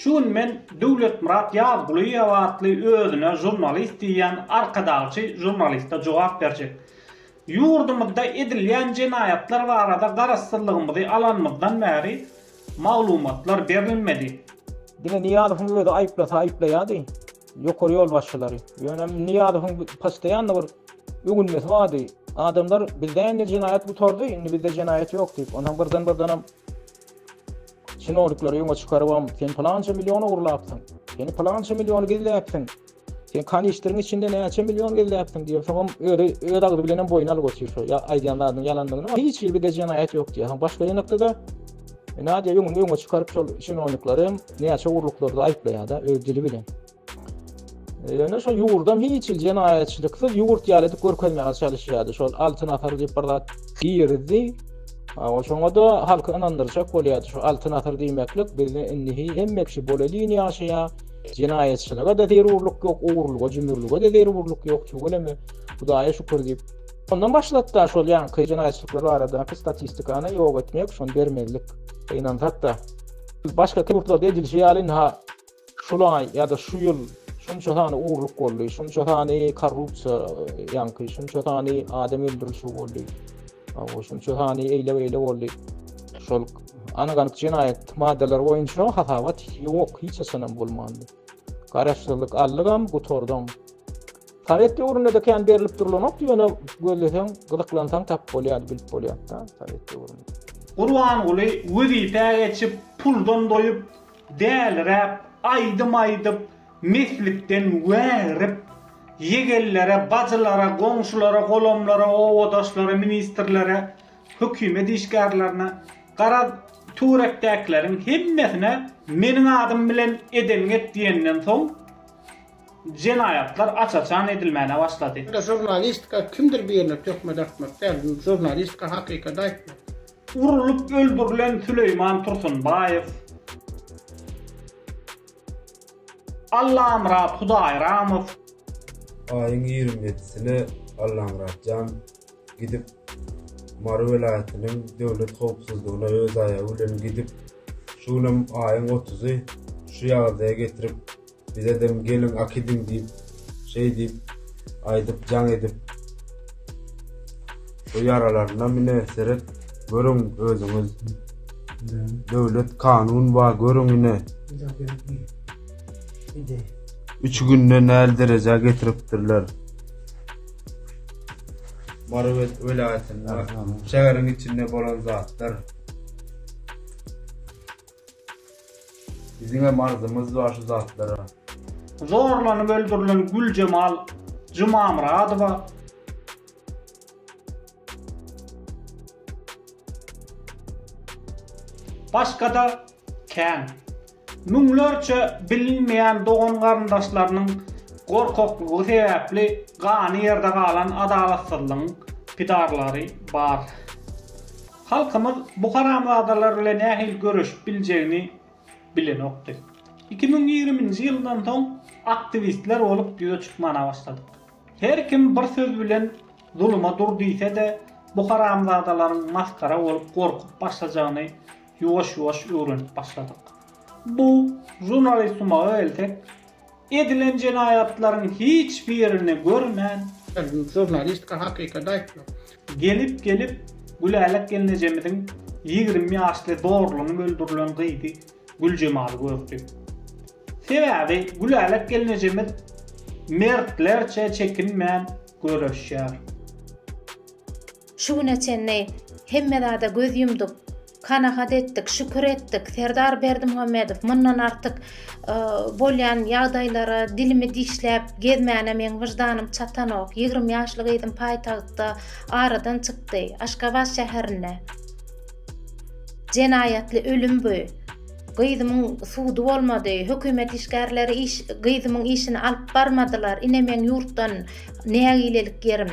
Şu gün men Döwletmyrat Ýazgulyýew atly özüne žurnalist diýýän arkadagçy žurnaliste jogap berjek. Ýurdumyzda edilýän jenaýatlar barada garaşsyzlygymyzy alanymyzdan bäri maglumatlar berilmedi. Diňe Nyýazowyň özi aýyplasa aýyplaýardy ýokary ýolbaşçylary. Ýöne Nyýazowyň postoýanna bir ögünmesi bardy. Adamlar bizde indi jenaýat gutardy, indi bizde jenaýat ýok diýip. Onsoň birden-birdenem Çinowniklary öňe çykarybam, sen pylança million ogurlapsyň, sen pylança million gizläpsiň, sen kanistriň içinde näçe million gizläpsiň diýip, soňam özi öz agzy bilen hem boýun alyp otyr şu aýdýan zadynyň ýalandygyny, hiç hili de jenaýat ýok diýýär. Soň başga ýanakda-da Nadýa öňüni öňe çykaryp şol çinowniklary hem näçe ogurlyklarda aýyplaýar-da öz dili bilen. Ýöne şol ýurdam hiç hil jenaýatçylyksy ýurt ýaly edip görkezmäge çalyşýardy. Şol altyn asar diýip bir zat girdi. Awa şoňa da halky ynandyrjak bolýardy. Şu altyn asar diýmeklik bizde indi hemme kişi bolelin ýaşaýa. Jenaýatçylyga da zerurlyk ýok, ogurlyga, jümürlige de zerurlyk ýok. Çuwaleme Hudaýa şükür diýip. Ondan başlap da şol ýanky jenaýatçylyklar barada statistikany ýok etmek, şony bermezlik. Ynansak da başga ýurtlarda edilişi ýaly ha şol aý ýa-da şu ýyl şunça sany ogurlyk boldy, şunça sany korrupsiýa ýaňky, şunça sany adam öldürilişi boldy, şunça sany eýle-beýle boldy. Şol anyk-anyk jenaýat maddalary boýunça hasabat ýok, hiç haçanam bolmandy. Garaşsyzlyk aldygam, gutardyň. Sowet döwründe-de kän berlip durlanok, ýöne gözleseň, gyzyklansaň tapyp bolýar, bilip bolýar-da, Sowet döwründe. Gurbanguly wezipä geçip, puldan doýup, Däliräp aýdym aýdyp, meslikden wägirip, ýegellere, bajylara, goňşulara, golamlara, obadaşlara, ministrlere, hökümet işgärlerine, garaz, turekdäkileriň hemmesine meniň adym bilen edeňi et diýenden soň, jenaýatlar aç-açan edilmäne başlady. Ýöne žurnalistika kimdir birine töhmet atmak däl, žurnalistika hakykaty aýtmak. Urlup öldürilen Süleýman Tursunbaýew, Allamyrat Hudaýramow, Aýyň ýigrimi ýedisine Allamyratjan gidip, Mary welaýatynyň Döwlet howpsuzlygyna öz aýagy bilen gidip, şu günem aýyň otuzy şu ýagdaýa getirip, Bizedem gelin akidiň diýip şeý diýip aýdyp jaň edip bu ýaralarynam ine seret görüň özüňiz döwlet kanun ba görüň ine üç günde näl derejä getiripdirler Mary welaýatynda şäheriň içinde bolan zatlar. Biziňem arzymyz bar şu zatlara. Zorlanyp öldürilen Güljemal Jumamyradowa. Başga-da kän. Müňlerçe bilinmeýän dogan-garyndaşlarynyň gorkaklygy sebäpli gany ýerde galan adalatsyzlygyň pidarlary bar. Halkymyz bu haramzadalar bile nähili göreşip biljegini bilenokdy. Iki müň ýigriminji ýyldan soň aktiwistler bolup ýüze çykmana başladyk. Her kim bir söz bilen zuluma dur diýse-de, bu haramzadalaryň masgara bolup gorkup başlajagyny ýuwaş-ýuwaş öwrenip başladyk. Bu, žurnalistsumaga gelsek, Edilen jenaýatlaryň hiç birini görmän. Žurnalistika hakykady aýtmak. Gelip gelip Gülälek gelnejemiziň ýigrimi ýaşly zorlanyp öldürilen gyzy Güljemaly gördi. Sebäbi Gülälek gelnejemiz mertlerçe çekinmän göreşýär. Şu güne çenli hemme zada göz ýumduk, kanagat etdik, şükür etdik, Serdar Berdimuhamedow mundan artyk bolýan ýagdaýlara dilimi dişläp gezmäne meň wyždanym çatanok, ýigrimi ýaşly gyzym paýtagtda aradan çykdy, Aşgabat şäherinde jenaýatly ölüm bu, gyzymyň sudy bolmady, hökümet işgärleri gyzymyň işini alyp barmadylar, ine meň ýurtdan nägilelik ýerim.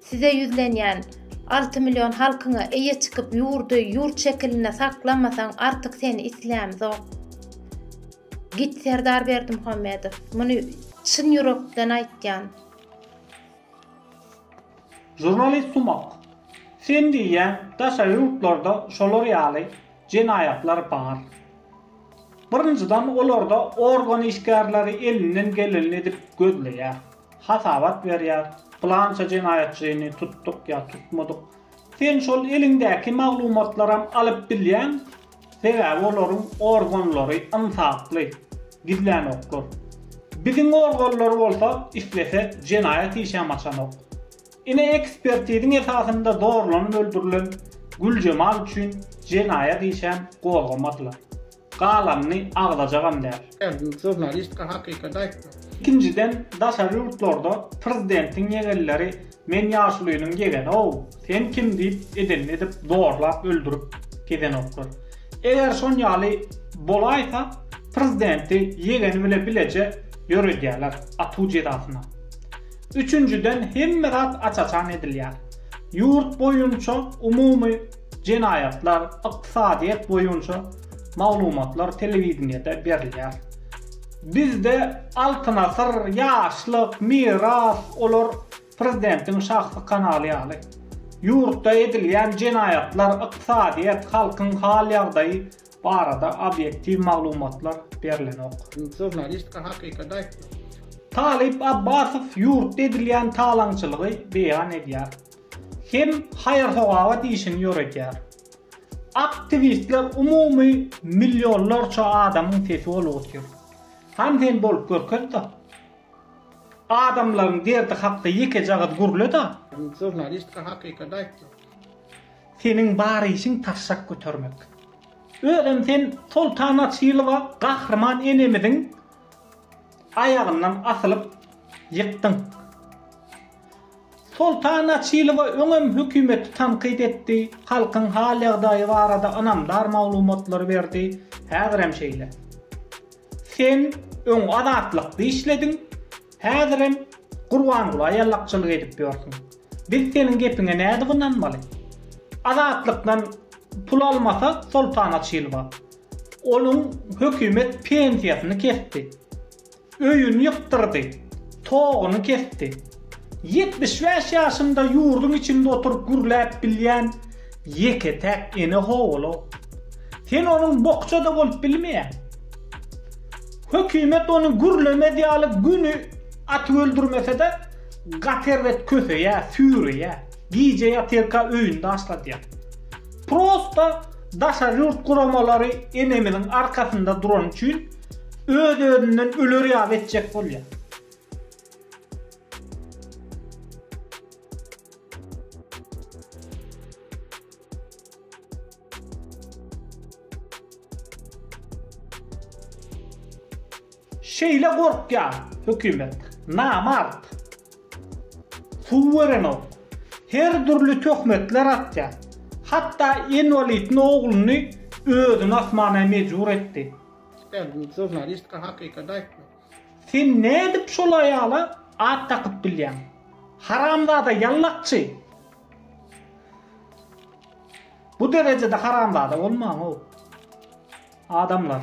Size ýüzlenýän alty million halkyňa eýe çykyp ýurdy ýurt şekilinde saklamasaň artyk seni islämzok. Git Serdar Berdimuhamedow. Muny çyn ýürekden aýtýan. Žurnalist sumak. Sen diýýäň daşary ýurtlarda şolar ýaly jenaýatlar bar. Birinjiden olarda organ işgärleri elinden gelenini edip gözleýär. hasabat berýär, pylança jenaýatçyny tutduk ýa tutmadyk. Sen şol eliňdäki maglumatlaram alyp bilýäň, sebäbi olaryň organlary ynsaply, gizlänoklar. Biziň organlar bolsa islese jenaýat işem açanok. Ine ekspertiziň esasynda zorlanyp öldürilen Güljemal üçin jenaýat işem gozgamadylar. galanyny agzajagam däl. Her gün žurnalistka hakykaty aýtmak. Ikinjiden daşary ýurtlarda prezidentiň ýegenleri men ýaşulynyň ýegenow sen kim diýip edenini edip zorlap öldürip gezenoklar. Eger şonýaly bolaýsa prezidenti ýegeni bile bileje ýöredýäler atuw jezasyna. Üçünjiden hemme zat aç-açan edilýär. Ýurt boýunça umumy Jenaýatlar, ykdysadyýet boýunça maglumatlar telewideniýede berilýär. Bizde Altyn asyr, Ýaşlyk, Miras, olar prezidentiň şahsy kanaly ýaly. Ýurtda edilýän jenaýatlar, ykdysadyýet, halkyň hal-ýagdaýy barada obýektiw maglumatlar berlenok. Žurnalistika hakykady aýtmak. Talyp Abbasow ýurtda edilýän talaňçylygy beýan edýär. hem haýyr-sogawat işini ýöredýär. Aktiwistler umumy millionlarça adamyň sesi bolup otyr. Hany sen bolup görkezda. Adamlaryň derdi hakda ýekeje gyz gürleda. Sen žurnalistka hakykat aýtdyň. Seniň bar işiň taşşak götermek. Özem sen Soltan Açylowa gahryman enemiziň aýagyndan asylyp ýykdyň. Soltan Açylowa öňem hökümeti tankyt etdi, halkyň hal-ýagdaýy barada ynamdar maglumatlary berdi, häzirem şeýle. Sen öň Azatlykda işlediň, häzirem Gurbangula ýallakçylyk edip ýörsüň. Biz seniň gepiňe nädip ynanmaly? Azatlykdan pul almasa Soltan Açylowa, onuň hökümet pensiýasyny kesdi. Öýüni ýykdyrdy. Toguny kesdi. Ýetmiş bäş ýaşynda ýurduň içinde oturyp gürläp bilýän ýeke-täk ene ho-olo. Sen onuň bokja-da bolup bilmeýäň. Hökümet ony gürlemez ýaly güni atyp öldürmese-de, gaty erbet köseýär, süýreýär. Gije ýatyrka öýüni daşladýar. Prosta daşary ýurt guramalary enemiziň arkasynda durany üçin öz-özünden öler ýaly etjek bolýar. Şeýle gorkýar hökümet. Namart. Suwerenok. Her dürli töhmetler atýar. Hatda inwalidni ogluny özüni asmana mejbur etdi. Süper büyük žurnalistka hakykat aýtmak. Sen nädip şol aýala at dakyp bilýäň? Haramzada ýallakçy! Bu derejede haramzada bolmaň-ow. Adamlar.